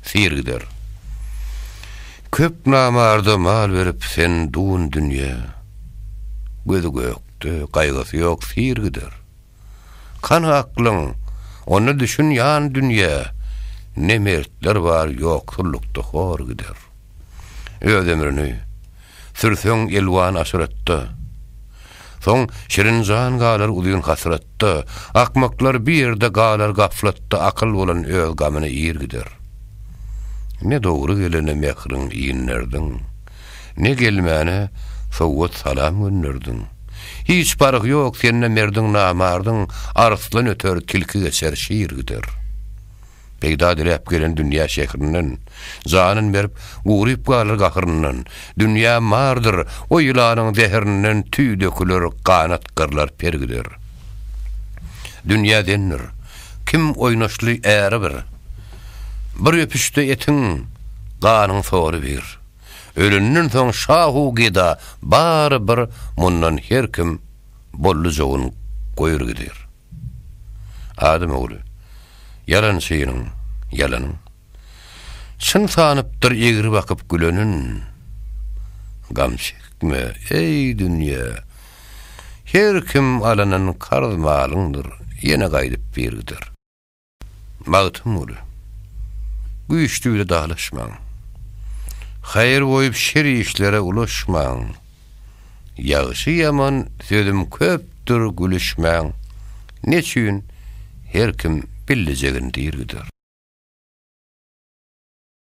Syr gider. Köp namarda mal berip sen dun dünýä. Gözi gökde, gaýgysy ýok syr gider. Kany aklyň, onda düşün ýan dünýä. Ne mertler bar ýoksullukda hor gider. Öz ömrüni, Sürseň elwan aşyratda. Soň şirin jan galar uzyn hasratda, Akmaklar bir ýerde galar gaflatda Akyl bolan öz gamyny ir gider. Ne dogry gelene mähriň inderdiň, Ne gelmäne sowgat salam gönderdiň. Hiç parhy ýok sende merdiň namardyň, Arslan öter, tilki geçer, şir gider. Peýda diläp gelen dünýä şährinden, Janyn berip, guryp galar gahryndan. Dünýä mardyr, o ýylanyň zährinden Tüý döküler, ganat gyrlar, per gider. Dünýä dendir, kim oýnaşly äri bir, Bir öpüşde etiň, ganyň soly bir. Ölenden soň şahu geda bary bir Mundan her kim boldy jogyn goýur gider. Adam ogly, ýalan şeýiniň, ýalanyň. Çyn sanypdyr egri bakyp gülenin. Gam çekme, eý, dünýe! Her kim alanan karz malyňdyr, ýene gaýdyp bir gider. Magtymguly, Güýçli bile dalaşmaň. Haýyr goýup şer işlere ulaşmaň. Ýagşy ýaman sözüm köpdür gülüşmäň. Neçün her kim billejegin dirgider.